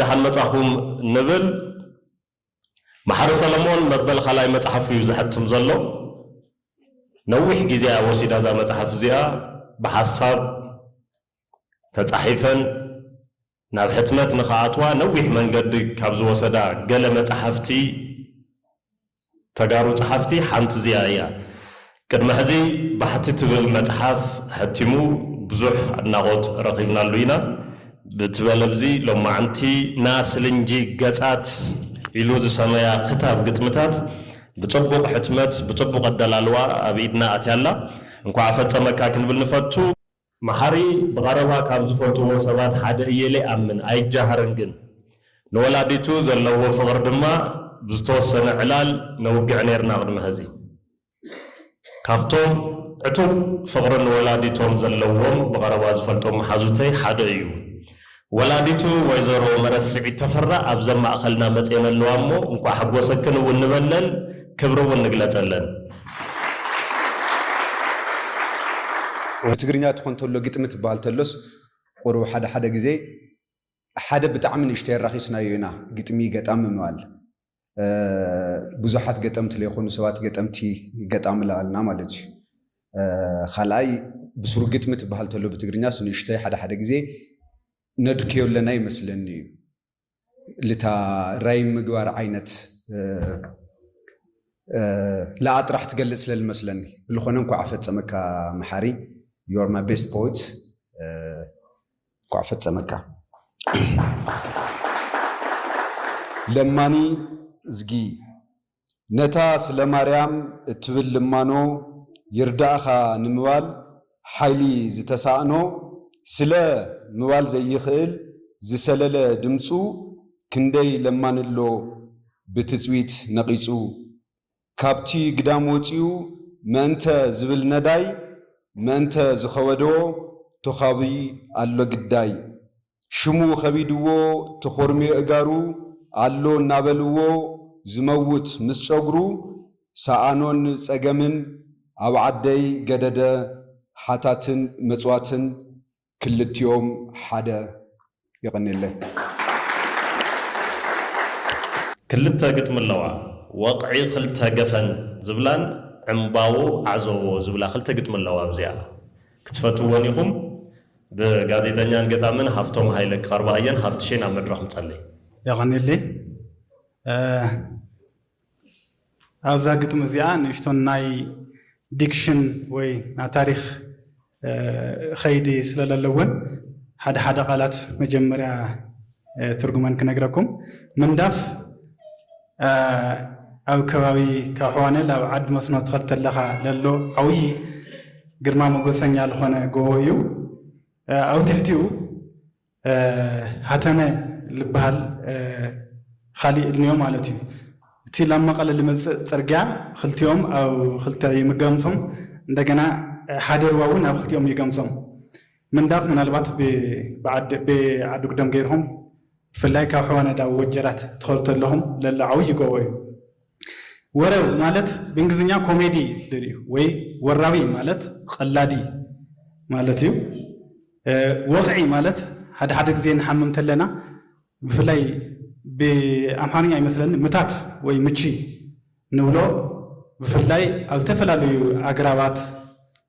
ዳሓን መጻኹም ንብል። መሓሪ ሰለሞን መበል ካልኣይ መጽሓፉ እዩ ዘሕትም ዘሎ። ነዊሕ ግዜ እያ ወሲዳ እዛ መጽሓፍ እዚኣ ብሓሳብ ተጻሒፈን ናብ ሕትመት ንኽኣትዋ ነዊሕ መንገዲ ካብ ዝወሰዳ ገለ መጻሕፍቲ ተጋሩ ጸሓፍቲ ሓንቲ እዚኣ እያ። ቅድሚ ሕዚ ባሕቲ ትብል መጽሓፍ ሐቲሙ ብዙሕ ኣድናቖት ረኺብናሉ ኢና። ብቲ በለብዚ ሎማዕንቲ ንኣስልንጂ ገጻት ኢሉ ዝሰመያ ክታብ ግጥምታት ብጽቡቕ ሕትመት ብጽቡቕ ኣደላልዋ ኣብ ኢድና ኣትያ ኣላ። እንኳዕ ኣፈጸመካ ክንብል ንፈቱ። መሓሪ ብቐረባ ካብ ዝፈልጥዎ ሰባት ሓደ እየ ኢለ ይኣምን፣ ኣይጃሃርን ግን። ንወላዲቱ ዘለዎ ፍቕሪ ድማ ብዝተወሰነ ዕላል ነውግዕ ነይርና ቅድሚ ሀዚ። ካብቶም ዕቱብ ፍቕሪ ንወላዲቶም ዘለዎም ብቐረባ ዝፈልጦም መሓዙተይ ሓደ እዩ። ወላዲቱ ወይዘሮ መረስዒት ተፈራ ኣብዘም ማእኸልና መፅየን ኣለዋ እሞ እንኳዕ ሓጎሰክን እውን ንበለን ክብሪ እውን ንግለፀለን። ብትግርኛ ትኾን ተሎ ግጥሚ ትበሃል ተሎስ ቁሩብ ሓደ ሓደ ግዜ ሓደ ብጣዕሚ ንእሽተይ ኣራኺስናዮ ኢና ግጥሚ ገጣሚ ምባል። ብዙሓት ገጠምቲ ለይኮኑ ሰባት ገጠምቲ ገጣሚ ለኣልና ማለት እዩ። ካልኣይ ብሱሩ ግጥሚ ትበሃል ተሎ ብትግርኛስ ንእሽተይ ሓደ ሓደ ግዜ ነድክዮ ኣለና ይመስለኒ እዩ ልታ ራይም ምግባር ዓይነት ለኣ ጥራሕ ትገልጽ ስለ ዝመስለኒ ብልኾነ እንኳዕ ኣፈጸመካ መሓሪ ዮር ማይ ቤስት ፖት እንኳዕ ፈፀመካ ለማኒ እዝጊ ነታ ስለ ማርያም እትብል ልማኖ ይርዳእኻ ንምባል ሓይሊ ዝተሳእኖ ስለ ምባል ዘይኽእል ዝሰለለ ድምፁ ክንደይ ለማኒ ኣሎ ብትፅቢት ነቒፁ ካብቲ ግዳም ወጺኡ መእንተ ዝብል ነዳይ መእንተ ዝኸበዶ ቶኻቢ ኣሎ ግዳይ ሽሙ ከቢድዎ ተኾርምዮ እጋሩ ኣሎ እናበልዎ ዝመውት ምስ ጨጉሩ ሰኣኖን ጸገምን ኣብ ዓደይ ገደደ ሓታትን መጽዋትን ክልቲኦም ሓደ የቐኔለይ። ክልተ ግጥሚ ኣለዋ ወቕዒ ክልተ ገፈን ዝብላን ዕምባዎ ዓዘዎ ዝብላ ክልተ ግጥሚ ኣለዋ ኣብዚኣ ክትፈትውወን ኢኹም ብጋዜጠኛን ገጣምን ሃፍቶም ሃይለ ክቐርባ እየን ሃፍትሸይ ናብ መድረኽ ምጸለይ። የቐኔለይ። ኣብዛ ግጥሚ እዚኣ ንእሽቶ ናይ ዲክሽን ወይ ናይ ታሪኽ ኸይዲ ስለ ለለወን ሓደ ሓደ ቃላት መጀመርያ ትርጉመን ክነግረኩም። ምንዳፍ ኣብ ከባቢ ካብ ሕዋነ ላብ ዓድ መስኖ ትኸድ ተለኻ ለሎ ዓውዪ ግርማ ሞገሰኛ ልኾነ ጎቦ እዩ። ኣብ ትሕቲኡ ሃተነ ልበሃል ኻሊእ እልንዮ ማለት እዩ። እቲ ላብ መቐለ ልመጽእ ጽርግያ ኽልቲኦም ኣብ ኽልተ ይምገምሶም እንደገና ሓደ ርባ እውን ኣብ ኽልቲኦም ይገምሶም። ምንዳፍ ምናልባት ብዓዲጉደም ገይርኹም ብፍላይ ካብ ሕዋነዳ ወጀራት ትኸዱ ተለኹም ለሎ ዓውዪ ጎቦ እዩ። ወረ ማለት ብእንግሊዝኛ ኮሜዲ ልል እዩ ወይ ወራዊ ማለት ቐላዲ ማለት እዩ። ወቕዒ ማለት ሓደ ሓደ ግዜ ንሓምም ተለና ብፍላይ ብኣምሓርኛ ይመስለኒ ምታት ወይ ምቺ ንብሎ ብፍላይ ኣብ ዝተፈላለዩ ኣግራባት፣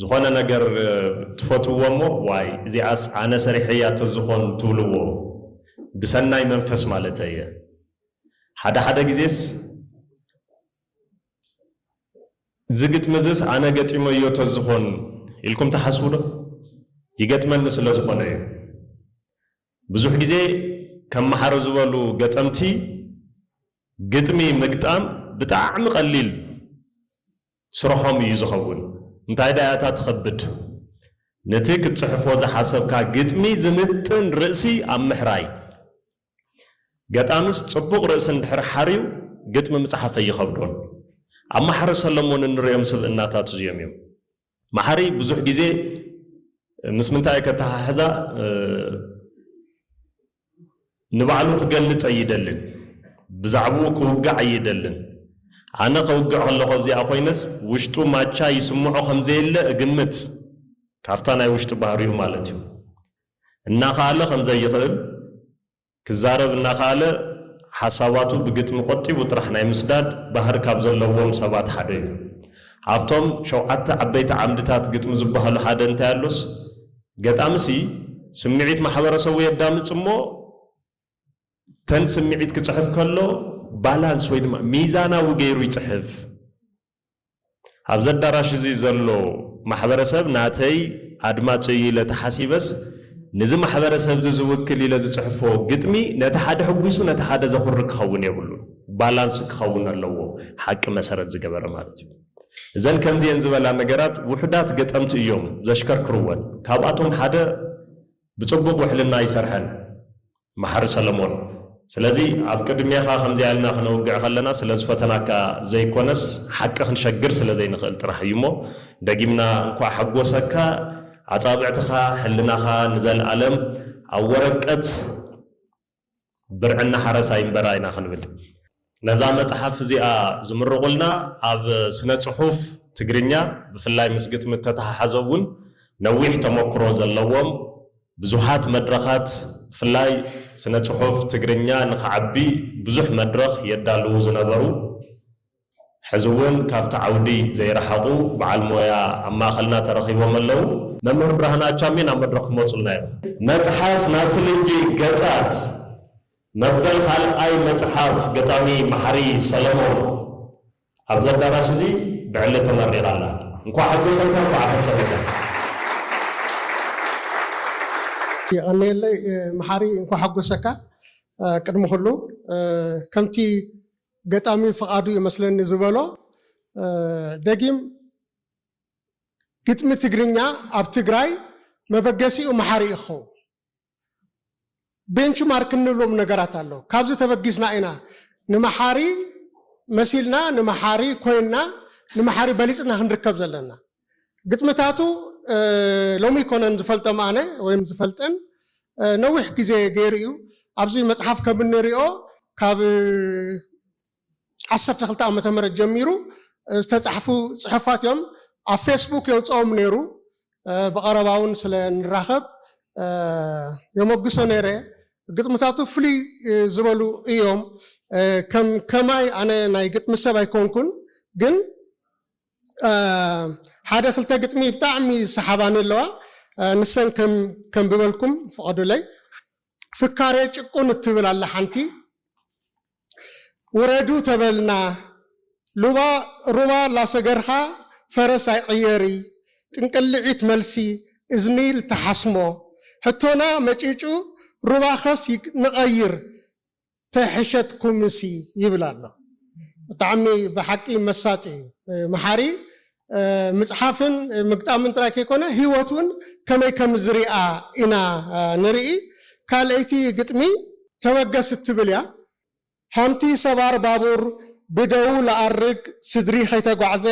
ዝኾነ ነገር ትፈትውዎ እሞ ዋይ እዚኣስ ኣነ ሰሪሐያ ተዝኾን ትብልዎ ብሰናይ መንፈስ ማለተይ እየ ሓደ ሓደ ግዜስ እዚ ግጥሚ እዝስ ኣነ ገጢመዮ ተዝኾን ኢልኩም ትሓስቡ ዶ ይገጥመኒ ስለ ዝኾነ እዩ ብዙሕ ግዜ ከም መሓሪ ዝበሉ ገጠምቲ ግጥሚ ምግጣም ብጣዕሚ ቀሊል ስርሖም እዩ ዝኸውን። እንታይ ደኣ እታ ትኸብድ? ነቲ ክትጽሕፎ ዝሓሰብካ ግጥሚ ዝምጥን ርእሲ ኣብ ምሕራይ። ገጣምስ ጽቡቕ ርእሲ እንድሕር ሓርዩ ግጥሚ ምጽሓፍ ኣይኸብዶን። ኣብ መሓሪ ሰለሞን እንርእዮም ስብእናታት እዚኦም እዮም። መሓሪ ብዙሕ ግዜ ምስ ምንታይ እየ ከተሓሕዛ? ንባዕሉ ክገልጽ ኣይደልን ብዛዕብኡ ክውግዕ ኣይደልን ኣነ ከውግዕ ከለኹ ኣብዚኣ ኮይነስ ውሽጡ ማቻ ይስምዖ ከምዘየለ እግምት ካብታ ናይ ውሽጢ ባህሪኡ ማለት እዩ እናኸኣለ ከምዘይኽእል ክዛረብ እናኸኣለ ሓሳባቱ ብግጥሚ ቆጢቡ ጥራሕ ናይ ምስዳድ ባህሪ ካብ ዘለዎም ሰባት ሓደ እዩ ኣብቶም ሸውዓተ ዓበይቲ ዓምድታት ግጥሚ ዝበሃሉ ሓደ እንታይ ኣሎስ ገጣሚ'ሲ ስምዒት ማሕበረሰቡ የዳምጽ እሞ ተን ስምዒት ክጽሕፍ ከሎ ባላንስ ወይ ድማ ሚዛናዊ ገይሩ ይጽሕፍ። ኣብዚ ኣዳራሽ እዚ ዘሎ ማሕበረሰብ ናተይ ኣድማጺ እዩ ኢለ ተሓሲበስ ንዚ ማሕበረሰብዚ ዝውክል ኢለ ዝጽሕፎ ግጥሚ ነቲ ሓደ ሕጒሱ ነቲ ሓደ ዘኹርዕ ክኸውን የብሉን። ባላንስ ክኸውን ኣለዎ ሓቂ መሰረት ዝገበረ ማለት እዩ። እዘን ከምዚኤን ዝበላ ነገራት ውሑዳት ገጠምቲ እዮም ዘሽከርክርወን ካብኣቶም ሓደ ብጽቡቅ ውሕልና ኣይሰርሐን መሓሪ ሰለሞን ስለዚ ኣብ ቅድሜኻ ከምዚኣ ኢልና ክነውግዕ ከለና ስለ ዝፈተናካ ዘይኮነስ ሓቂ ክንሸግር ስለ ዘይንኽእል ጥራሕ እዩ እሞ ደጊምና እንኳዕ ሓጎሰካ ኣጻብዕትኻ ሕልናኻ ንዘልኣለም ኣብ ወረቀት ብርዕና ሓረሳይ እምበር ኢና ክንብል። ነዛ መጽሓፍ እዚኣ ዝምርቑልና ኣብ ስነ ጽሑፍ ትግርኛ ብፍላይ ምስ ግጥሚ እተተሓሓዘ እውን ነዊሕ ተመኩሮ ዘለዎም ብዙሓት መድረኻት ብፍላይ ስነ ጽሑፍ ትግርኛ ንኽዓቢ ብዙሕ መድረኽ የዳልዉ ዝነበሩ ሕዚ እውን ካብቲ ዓውዲ ዘይረሓቑ በዓል ሞያ ኣብ ማእኸልና ተረኺቦም ኣለዉ። መምህር ብርሃነ ኣቻሜ ናብ መድረኽ ክመፁልና እዮም። መፅሓፍ ናስልንጂ ገፃት መበል ካልኣይ መፅሓፍ ገጣሚ መሓሪ ሰለሞን ኣብዚ ኣዳራሽ እዚ ብዕሊ ተመሪቓ ኣላ። እንኳዕ ሓጎሰካ እንኳዕ ኣፈፀመካ። የቐንየለይ መሓሪ እንኳዕ ሓጎሰካ። ቅድሚ ኩሉ ከምቲ ገጣሚ ፍቓዱ እዩ መስለኒ ዝበሎ ደጊም ግጥሚ ትግርኛ ኣብ ትግራይ መበገሲኡ መሓሪ እዩ ክኸውን። ቤንች ማርክ እንብሎም ነገራት ኣሎ። ካብዚ ተበጊስና ኢና ንመሓሪ መሲልና ንመሓሪ ኮይንና ንመሓሪ በሊፅና ክንርከብ ዘለና። ግጥምታቱ ሎሚ ኣይኮነን ዝፈልጦም ኣነ ወይም ዝፈልጠን ነዊሕ ግዜ ገይሩ እዩ። ኣብዚ መጽሓፍ ከም እንሪኦ ካብ ዓሰርተ ክልተ ዓመተ ምህረት ጀሚሩ ዝተጻሕፉ ጽሑፋት እዮም። ኣብ ፌስቡክ የውጽኦም ነይሩ። ብቐረባ እውን ስለ ንራኸብ የሞግሶ ነይረ። ግጥምታቱ ፍልይ ዝበሉ እዮም። ከም ከማይ ኣነ ናይ ግጥሚ ሰብ ኣይኮንኩን ግን ሓደ ክልተ ግጥሚ ብጣዕሚ ዝሰሓባኒ ኣለዋ ንሰን ከም ከንብበልኩም ፍቐዱለይ። ፍካሬ ጭቁን እትብል ኣላ ሓንቲ ውረዱ ተበልና ሉባ ሩባ ላሰገርካ ፈረስ ኣይቕየሪ ጥንቅልዒት መልሲ እዝኒ ልትሓስሞ ሕቶና መጪጩ ሩባኸስ ንቐይር ተሕሸትኩምሲ ይብል ኣሎ ብጣዕሚ ብሓቂ መሳጢ እዩ መሓሪ ምጽሓፍን ምግጣምን ጥራይ ከይኮነ ሂወት ውን ከመይ ከምዝርኣ ኢና ንርኢ ካልኣይቲ ግጥሚ ተበገስ እትብል እያ ሃምቲ ሰባር ባቡር ብደዉ ልኣርግ ስድሪ ከይተጓዕዘ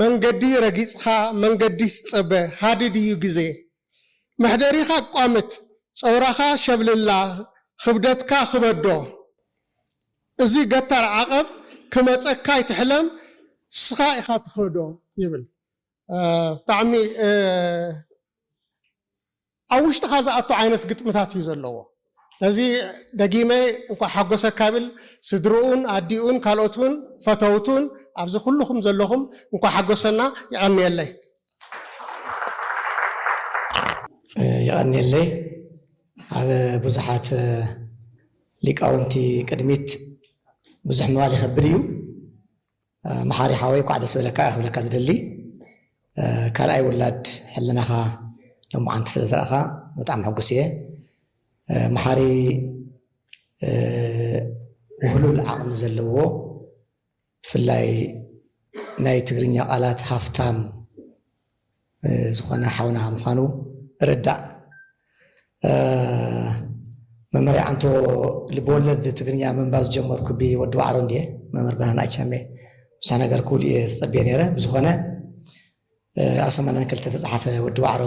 መንገዲ ረጊጽኻ መንገዲስ ጸበ ሃድድ ኢዩ ግዜ። መሕደሪኻ ኣቋምት ጸውራኻ ሸብልላ ኽብደትካ ኽበዶ እዚ ገታር ዓቐብ ክመጸካ ኣይትሕለም እስኻ ኢኻ ትኸዶ ይብል ብጣዕሚ ኣብ ውሽጥኻ ዝኣቱ ዓይነት ግጥምታት እዩ ዘለዎ። ነዚ ደጊመ እንኳዕ ሓጎሰካ እብል ስድርኡን ኣዲኡን ካልኦትን ፈተውቱን ኣብዚ ኩሉኹም ዘለኹም እንኳዕ ሓጎሰና የቐንየለይ። የቐንየለይ ኣብ ብዙሓት ሊቃውንቲ ቅድሚት ብዙሕ ምባል ይኸብድ እዩ መሓሪ ሓወይ ኳዕ ደስ በለካ እየ ክብለካ ዝደሊ ካልኣይ ውላድ ሕልናኻ ሎማዓንቲ ስለ ዝረእኻ ብጣዕሚ ሕጉስ እየ መሓሪ ውህሉል ዓቕሚ ዘለዎ ብፍላይ ናይ ትግርኛ ቃላት ሃፍታም ዝኾነ ሓውና ምዃኑ እርዳእ። መምህር የዓንቶ ልበወለድ ትግርኛ ምንባብ ዝጀመርኩ ብወዲ ዋዕሮ እንድየ መምህር ብርሃን ኣይቻሜ ብዙሕ ነገር ክብሉ እየ ዝፀበየ ነይረ ብዝኾነ ኣብ ሰማንያን ክልተ ተፅሓፈ ወዲ ዋዕሮ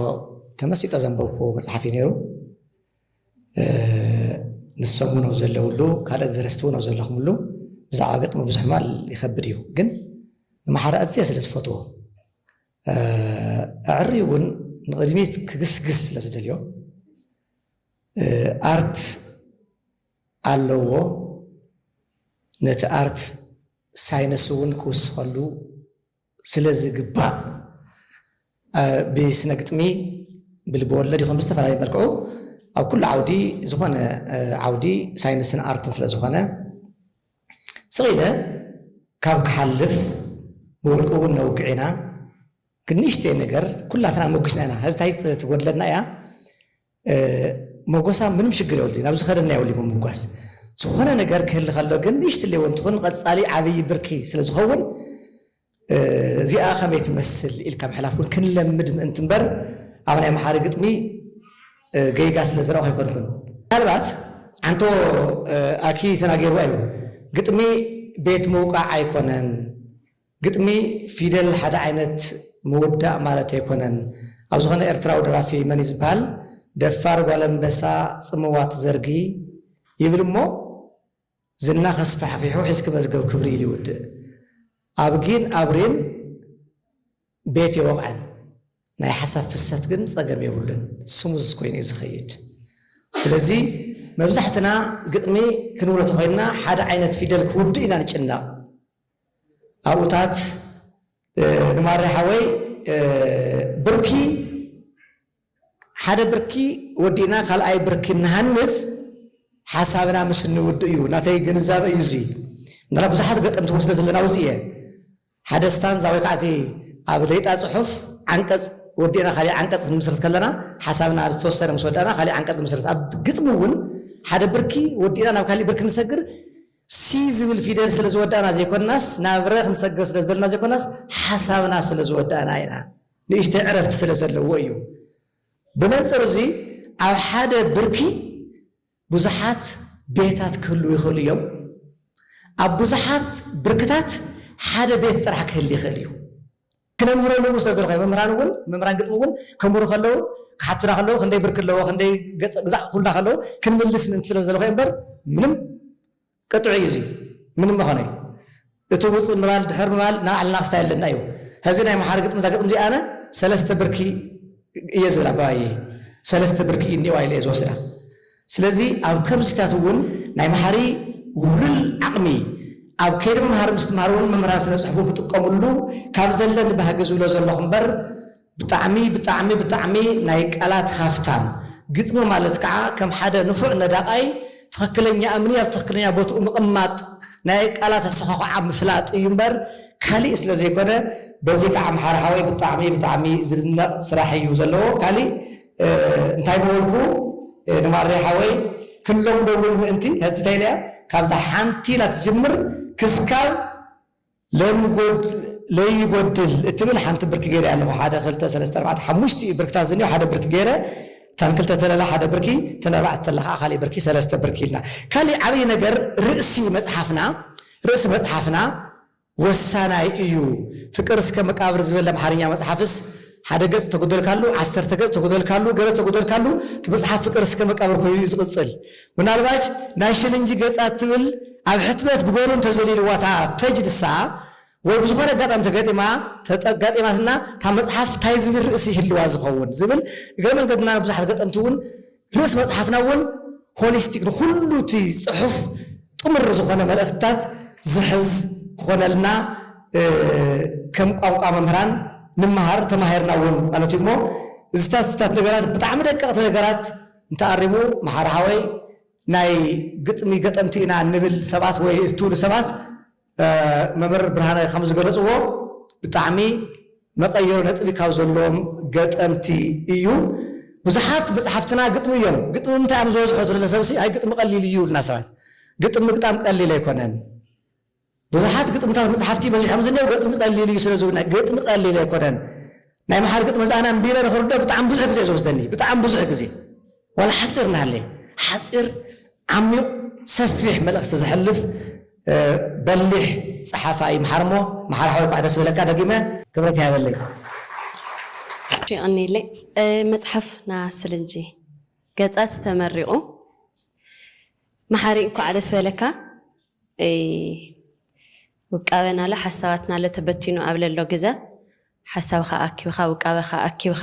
ተመሲጠ ዘንበብኩ መፅሓፍ እዩ ነይሩ ንሶም እውን ኣብ ዘለውሉ ካልኦት ደረስቲ እውን ኣብ ዘለኹምሉ ብዛዕባ ገጥሚ ብዙሕ ማል ይኸብድ እዩ ግን ንማሓረ ኣዝየ ስለ ዝፈትዎ ኣዐርዩ እውን ንቕድሚት ክግስግስ ስለ ዝደልዮ ኣርት ኣለዎ፣ ነቲ ኣርት ሳይንስ እውን ክውስኸሉ ስለ ዝግባእ ብስነ ግጥሚ፣ ብልበወለድ ይኹን ብዝተፈላለየ መልክዑ ኣብ ኩሉ ዓውዲ ዝኾነ ዓውዲ ሳይንስን ኣርትን ስለ ዝኾነ፣ ስቕ ኢለ ካብ ክሓልፍ ብውልቂ እውን ነውግዕ ኢና ግን ንእሽተይ ነገር ኩላትና ሞጊስና ኢና ሀዚ ታይ ትጎድለና እያ ሞጎሳ ምንም ሽግር የብሉን ናብ ዝኸደና የብሉን ምምጓስ ዝኾነ ነገር ክህሊ ከሎ ግን ንእሽትለይ እውን ትኹን ንቐፃሊ ዓብይ ብርኪ ስለዝኸውን እዚኣ ከመይ ትመስል ኢልካ ምሕላፍ ውን ክንለምድ ምእንቲ እምበር ኣብ ናይ መሓሪ ግጥሚ ገይጋ ስለ ዝረኣኹ ኣይኮንኩን። ምናልባት ዓንቶ ኣኪ ተናጊርዋ እዩ ግጥሚ ቤት ምውቃዕ ኣይኮነን ግጥሚ ፊደል ሓደ ዓይነት ምውዳእ ማለት ኣይኮነን ኣብ ዝኾነ ኤርትራዊ ደራፊ መን እዩ ዝብሃል ደፋር ጓል ኣንበሳ ጽምዋ ትዘርጊ ይብል እሞ ዝና ከስፋሕፊሑ ሒዝኪ መዝገብ ክብሪ ኢሉ ይውድእ ኣብጊን ኣብሪን ቤት የወቕዐን ናይ ሓሳብ ፍሰት ግን ጸገም የብሉን ስሙዝ ኮይኑ እዩ ዝኸይድ ስለዚ መብዛሕትና ግጥሚ ክንብሎ ተኾይንና ሓደ ዓይነት ፊደል ክውድእ ኢና ንጭነቕ ኣብኡታት ንማሬ ሓወይ ብርኪ ሓደ ብርኪ ወዲእና ካልኣይ ብርኪ ንሃንፅ ሓሳብና ምስ እንውድእ እዩ። ናተይ ግንዛበ እዩ እዚ። ምናልባት ብዙሓት ገጠምቲ እውን ስለ ዘለና ውዚ እየ። ሓደ ስታንዛ ወይ ከዓ እቲ ኣብ ሌጣ ፅሑፍ ዓንቀፅ ወዲእና ካሊእ ዓንቀፅ ክንምስርት ከለና ሓሳብና ዝተወሰነ ምስ ወዳእና ካሊእ ዓንቀፅ ንምስርት። ኣብ ግጥሚ እውን ሓደ ብርኪ ወዲእና ናብ ካሊእ ብርኪ ንሰግር ሲ ዝብል ፊደል ስለ ዝወዳእና ዘይኮናስ ናብ ረ ክንሰግር ስለ ዝደለና ዘይኮናስ ሓሳብና ስለ ዝወዳእና ኢና። ንእሽተይ ዕረፍቲ ስለ ዘለዎ እዩ። ብመንጽር እዚ ኣብ ሓደ ብርኪ ብዙሓት ቤታት ክህልዉ ይኽእሉ እዮም። ኣብ ብዙሓት ብርክታት ሓደ ቤት ጥራሕ ክህሊ ይኽእል እዩ። ክነምህረሉ እውን ስለ ዝረኸበ መምህራን እውን መምህራን ግጥሚ እውን ከምህሩ ከለዉ ክሓቱና ከለዉ ክንደይ ብርኪ ኣለዎ ክንደይ ገጸ ግዛዕ ክብሉና ከለዉ ክንምልስ ምእንቲ ስለ ዝደለኹ እየ እምበር ምንም ቅጥዑ እዩ እዚ ምንም መኸነ እዩ እቲ ውጽእ ምባል ድሕር ምባል ናይ ባዕልና ስታይል ኣለና እዩ ሀዚ ናይ ምሓረ ግጥሚ እዛ ግጥሚ እዚ ኣነ ሰለስተ ብርኪ እየ ዝብላ ባባየ ሰለስተ ብርኪ እዩ እኒኤዋ ኢለ እየ ዝወስዳ ስለዚ ኣብ ከምዚታት እውን ናይ ምሓሪ ውህሉል ዓቕሚ ኣብ ከይዲ ምምሃር ምስትምሃር እውን መምህራን ስነ ጽሑፍ እውን ክጥቀምሉ ካብ ዘለኒ ባህጊ ዝብሎ ዘለኹ እምበር ብጣዕሚ ብጣዕሚ ብጣዕሚ ናይ ቃላት ሃፍታም ግጥሚ ማለት ከዓ ከም ሓደ ንፉዕ ነዳቃይ ትኽክለኛ እምኒ ኣብ ትኽክለኛ ቦትኡ ምቅማጥ ናይ ቃላት ኣሰዃኹዓ ምፍላጥ እዩ እምበር ካሊእ ስለ ዘይኮነ በዚ ከዓ ኣምሓሩ ሓወይ ብጣዕሚ ብጣዕሚ ዝድነቅ ስራሕ እዩ ዘለዎ ካሊእ እንታይ ምበልኩ ንማሬ ሓወይ ክለምዶ እውን ምእንቲ ሐዚ እንታይ ኢለያ ካብዛ ሓንቲ ኢላ ትጅምር ክስካብ ለይጐድል እትብል ሓንቲ ብርኪ ገይረ ኣለኹ፣ ሓደ፣ ክልተ፣ ሰለስተ፣ ኣርባዕተ፣ ሓሙሽተ እዩ ብርክታት ዝኒኦ፣ ሓደ ብርኪ ገይረ፣ እተን ክልተ ተለላ ሓደ ብርኪ፣ እተን ኣርባዕተ ተለላ ከኣ ካሊእ ብርኪ፣ ሰለስተ ብርኪ ኢልና። ካሊእ ዓብዪ ነገር ርእሲ መጽሓፍና፣ ርእሲ መጽሓፍና ወሳናይ እዩ፣ ፍቅር እስከ መቃብር ዝብል ኣምሓርኛ መጽሓፍስ፣ ሓደ ገጽ ተጎደልካሉ ዓሰርተ ገጽ ተጎደልካሉ ገለ ተጎደልካሉ እቲ መጽሓፍ ፍቅር እስከ መቃብር ኮይኑ እዩ ዝቅጽል ምናልባች ናይ ሽልንጂ ገጻት ትብል ኣብ ሕትመት ብገሩ እንተዘሊልዋ እታ ፐጅ ንሳ ወይ ብዝኮነ ኣጋጣሚ ተገጢማ ተጋጢማትና እታ መጽሓፍ ታይ ዝብል ርእሲ ይህልዋ ዝከውን ዝብል እግረ መንገድና ንብዙሓት ገጠምቲ ውን ርእስ መጽሓፍና እውን ሆሊስቲክ ንኹሉ እቲ ጽሑፍ ጥሙር ዝኾነ መልእኽትታት ዝሕዝ ክኾነልና ከም ቋንቋ መምህራን ንመሃር ተማሂርና እውን ማለት እዩ እሞ እዚታት እዚታት ነገራት ብጣዕሚ ደቀቕቲ ነገራት እንተኣሪሙ መሓሪ ሓወይ ናይ ግጥሚ ገጠምቲ ኢና እንብል ሰባት ወይ እትብሉ ሰባት መምህር ብርሃነ ከም ዝገለፅዎ ብጣዕሚ መቀየሪ ነጥቢ ካብ ዘለዎም ገጠምቲ እዩ። ብዙሓት መፅሓፍትና ግጥሚ እዮም። ግጥሚ ምንታይ እዮም ዝበዝሑ ትብለ ሰብሲ ኣይ ግጥሚ ቀሊል እዩ ይብሉና ሰባት። ግጥሚ ምግጣም ቀሊል ኣይኮነን። ብዙሓት ግጥምታት መፅሓፍቲ በዚሖም ዝኔው ገጥሚ ቀሊል እዩ ስለ ዝብሉና ግጥሚ ቀሊል ኣይኮነን። ናይ መሓሪ ግጥሚ እዚ ኣነ ኣንቢበ ንክርድኦ ብጣዕሚ ብዙሕ ግዜ እዩ ዝወስደኒ። ብጣዕሚ ብዙሕ ግዜ። ዋላ ሓጺር እንሃለየ ሓጺር ዓሚቕ ሰፊሕ መልእኽቲ ዘሕልፍ በሊሕ ጸሓፋይ ምሓር እሞ ምሓር ሓወይ እንኳዕ ደስ በለካ ደጊመ ክብረት ይሃበለይ። የቐንየለይ መጽሓፍ ና ስልንጂ ገጻት ተመሪቑ መሓሪ እንኳዕ ደስ በለካ ውቃበና ኣሎ ሓሳባትና ኣሎ ተበቲኑ ኣብ ለሎ ግዘ ሓሳብኻ ኣኪብኻ ውቃበኻ ኣኪብኻ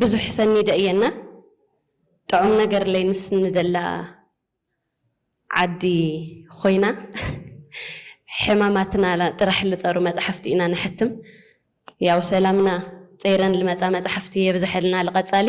ብዙሕ ሰኒደ እየ እና ጥዑም ነገር ለይንስ ንደላ ዓዲ ኾይና ሕማማትና ጥራሕ ልፀሩ መፃሕፍቲ ኢና ነሕትም ያው ሰላምና ፀይረን ልመፃ መፃሕፍቲ የብዘሐልና ልቐፃሊ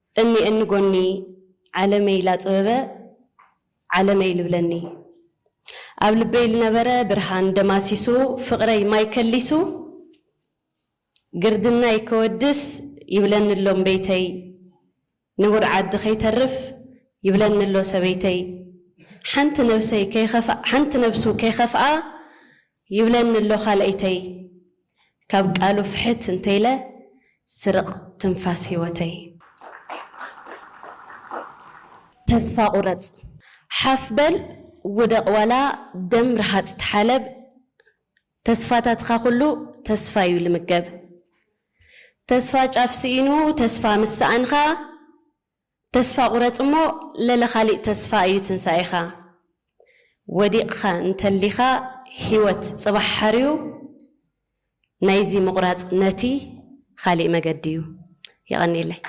እኒ እኒ ጎኒ ዓለመይ ላጽበበ ዓለመይ ልብለኒ ኣብ ልበይ ልነበረ ብርሃን ደማሲሱ ፍቕረይ ማይ ከሊሱ ግርድናይ ከወድስ ይብለኒ ኣሎ እምበይተይ ንቡር ዓዲ ከይተርፍ ይብለኒ ኣሎ ሰበይተይ ሓንቲ ነብሰይ ሓንቲ ነብሱ ከይኸፍኣ ይብለኒ ኣሎ ካልኣይተይ ካብ ቃሉ ፍሕት እንተይለ ስርቕ ትንፋስ ሂወተይ። ተስፋ ቁረጽ ሓፍ በል ውደቕ ዋላ ደም ርሃጽ ተሓለብ ተስፋታትኻ ኩሉ ተስፋ ዩ ልምገብ ተስፋ ጫፍ ስኢኑ ተስፋ ምስ ሰኣንካ። ተስፋ ቁረጽ እሞ ለለ ካሊእ ተስፋ እዩ ትንሳኤኻ ወዲቅኻ እንተሊኻ ሂወት ጽባሕ ሓርዩ ናይዚ ምቁራጽ ነቲ ኻሊእ መገዲ እዩ የቀንየለይ።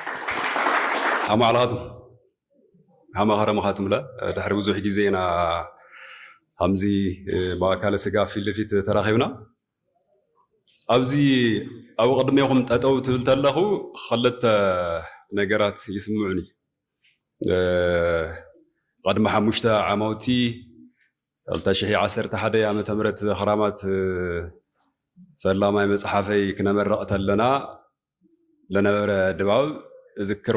ኣማዕልኻትም ሃመ ከረምኻትምለ ድሕሪ ብዙሕ ግዜ ኢና ከምዚ ብኣካለ ስጋ ፊት ልፊት ተራኺብና ኣብዚ ኣብ ቅድሜኹም ጠጠው ትብል ተለኹ ኸልተ ነገራት ይስምዑኒ ቐድሚ ሓሙሽተ ዓማውቲ ክልተ ሽሕ ዓሰርተ ሓደ ዓመተ ምህረት ኽራማት ፈላማይ መፅሓፈይ ክነመርቕ ተለና ለነበረ ድባብ እዝክሮ።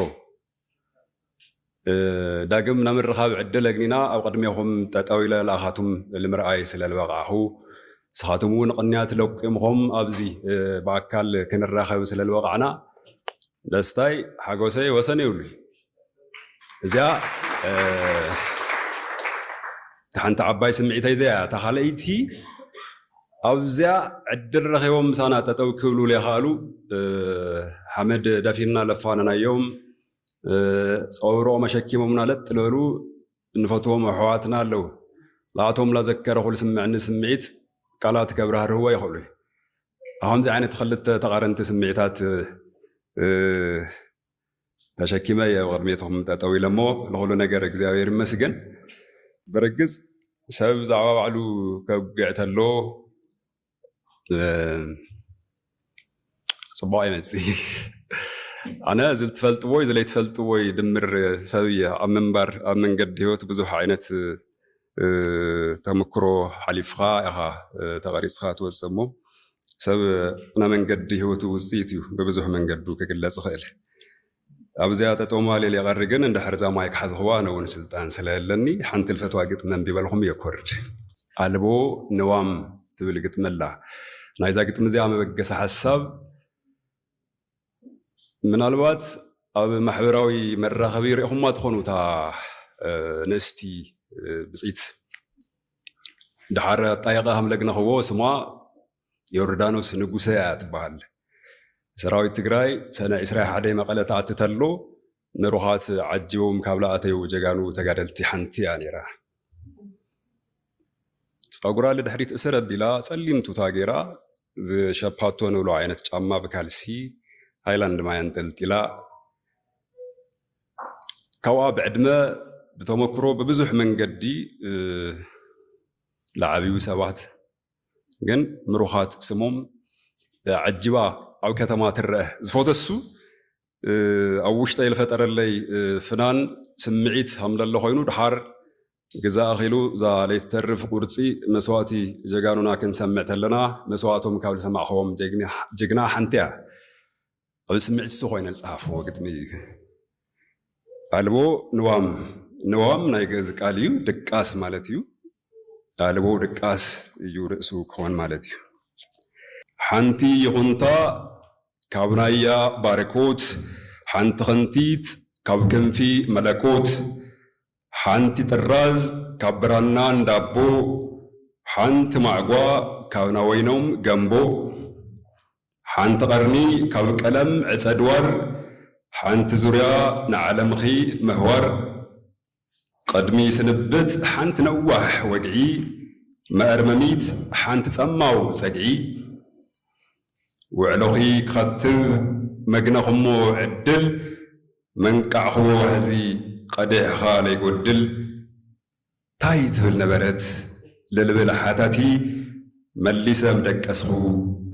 ዳግም ናብ ምርኻብ ዕድል ኣግኒና ኣብ ቅድሜኹም ጠጠው ኢለ ለኣኻቱም ልምርኣይ ስለ ልበቓዕኹ ንስኻትኩም እውን ቕንያት ለቂምኹም ኣብዚ ብኣካል ክንራኸብ ስለ ልበቓዕና ደስታይ ሓጎሰይ ወሰን የብሉይ። እዚኣ እቲ ሓንቲ ዓባይ ስምዒተይ እዚኣ እያ እታ ካልኣይቲ ኣብዚያ ዕድል ረኺቦም ምሳና ጠጠው ክብሉ ዘይከኣሉ ሓመድ ደፊንና ለፋነናዮም ፀውሮኦም ኣሸኪሞምና ለጥ ልበሉ እንፈትዎም ኣሕዋትና ኣለዉ ንኣቶም ላዘከረኹ ዝስምዕኒ ስምዒት ቃላት ከብራህርህዎ ይኽእሉ ከምዚ ዓይነት ክልተ ተቓረንቲ ስምዒታት ተሸኪመ እየ ቅድሜትኹም ጠጠው ኢለ እሞ ንኹሉ ነገር እግዚኣብሔር ይመስገን። ብርግጽ ሰብ ብዛዕባ ባዕሉ ከጉግዕ ተሎ ጽቡቕ ኣይመጽእ ኣነ እዚ ትፈልጥዎይ ዝለይትፈልጥዎይ ድምር ሰብ እየ ኣብ ምንባር ኣብ መንገዲ ህይወት ብዙሕ ዓይነት ተምክሮ ሓሊፍኻ ኢኻ ተቐሪጽኻ ትወጽእ እሞ ሰብ ናይ መንገዲ ህይወቱ ውጽኢት እዩ ብብዙሕ መንገዱ ክግለጽ ይኽእል። ኣብዚኣ ጠጠውማሌል የቐሪ ግን እንድሕር እዛ ማይክ ሓዝኽዋ ኣነ እውን ስልጣን ስለለኒ ሓንቲ ልፈትዋ ግጥሚ ኣንቢበልኹም እየ ክወርድ። ኣልቦ ንዋም ትብል ግጥሚ ኣላ ናይዛ ግጥሚ እዚኣ መበገሲ ሓሳብ ምናልባት ኣብ ማሕበራዊ መራኸቢ ሪኢኹማ ትኾኑ እታ ንእስቲ ብፅይት ድሓር ኣጣየቐ ሃምለግነኽዎ ስማ ዮርዳኖስ ንጉሰ እያ ትበሃል ሰራዊት ትግራይ ሰነ ዕስራ ሓደ መቐለ ተኣቲ ተሎ ንሩዃት ዓጂቦም ካብ ልኣተዩ ጀጋኑ ተጋደልቲ ሓንቲ እያ ነይራ። ፀጉራ ልድሕሪት እሰር ኣቢላ ፀሊም ቱታ ገይራ ዝሸፓቶ ንብሎ ዓይነት ጫማ ብካልሲ ሃይላንድ ማይ ኣንጠልጢላ ካብኣ ብዕድመ ብተመክሮ ብብዙሕ መንገዲ ለዓብዩ ሰባት ግን ምሩኻት ስሞም ዓጅባ ኣብ ከተማ ትረአ ዝፎተሱ ኣብ ውሽጠይ ዝፈጠረለይ ፍናን ስምዒት ሃምለሎ ኮይኑ ድሓር ግዛ ኣኺሉ እዛ ለይትተርፍ ቁርፂ መስዋእቲ ጀጋኑና ክንሰምዕ ተለና መስዋእቶም ካብ ዝሰማዕኸዎም ጅግና ሓንቲ እያ ኣብ ስምዒት እሱ ኮይነ ዝፀሓፍዎ ግጥሚ እዩ ኣልቦ ንዋም ንዋም ናይ ግእዝ ቃል እዩ ድቃስ ማለት እዩ ኣልቦ ድቃስ እዩ ርእሱ ክኾን ማለት እዩ ሓንቲ ይኹንታ ካብ ናያ ባርኮት ሓንቲ ክንቲት ካብ ክንፊ መለኮት ሓንቲ ጥራዝ ካብ ብራና እንዳቦ ሓንቲ ማዕጓ ካብ ናወይኖም ገምቦ ሓንቲ ቀርኒ ካብ ቀለም ዕጸ ድዋር ሓንቲ ዙርያ ንዓለምኺ ምህዋር ቕድሚ ስንብት ሓንቲ ነዋሕ ወግዒ መእርመሚት ሓንቲ ጸማው ጸግዒ ውዕሎኺ ክኸትብ መግነኹሞ ዕድል መንቃዕኹዎ ዋሕዚ ቐዴሕኻ ለይጎድል ታይ ትብል ነበረት ልልብል ሓታቲ መሊሰ ምደቀስኹ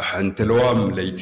ሓንቲ ለዋም ለይቲ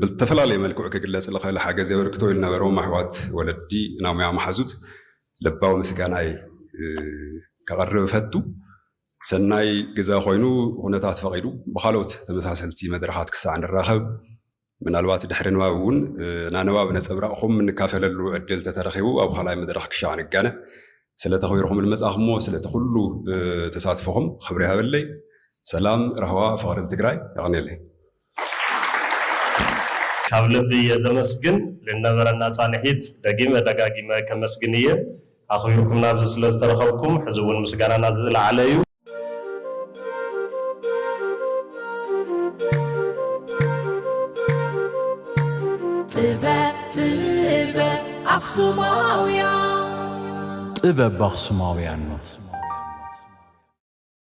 ብልተፈላለየ መልክዑ ክግለጽ ልኸእል ሓገዝ የበርክቶ ልነበሮም ኣሕዋት ወለዲ እና ሙያ መሓዙት ለባዊ ምስጋናይ ከቐርብ እፈቱ። ሰናይ ግዘ ኮይኑ ኹነታት ፈቒዱ ብኻልኦት ተመሳሰልቲ መድረኻት ክሳዕ ንራኸብ ምናልባት ድሕሪ ንባብ እውን እና ንባብ ነጸብራቕኹም እንካፈለሉ ዕድል ተተረኺቡ ኣብ ኻልኣይ መድረኽ ክሻዕ ንጋነ ስለ ተኽቢርኹም ልመጻኹሞ ስለቲ ኹሉ ተሳትፎኹም ኽብሪ ይሃበለይ። ሰላም፣ ራህዋ፣ ፍቕሪ ልትግራይ። የቐኔለይ። ካብ ልቢ እየ ዘመስግን ልነበረና ፃንሒት ደጊመ ደጋጊመ ከመስግን እየ ኣኽቢርኩምና ኣብዚ ስለ ዝተረኸብኩም ሕዚ እውን ምስጋናና ዝለዓለ እዩ። ጥበብ ባኽሱማውያን።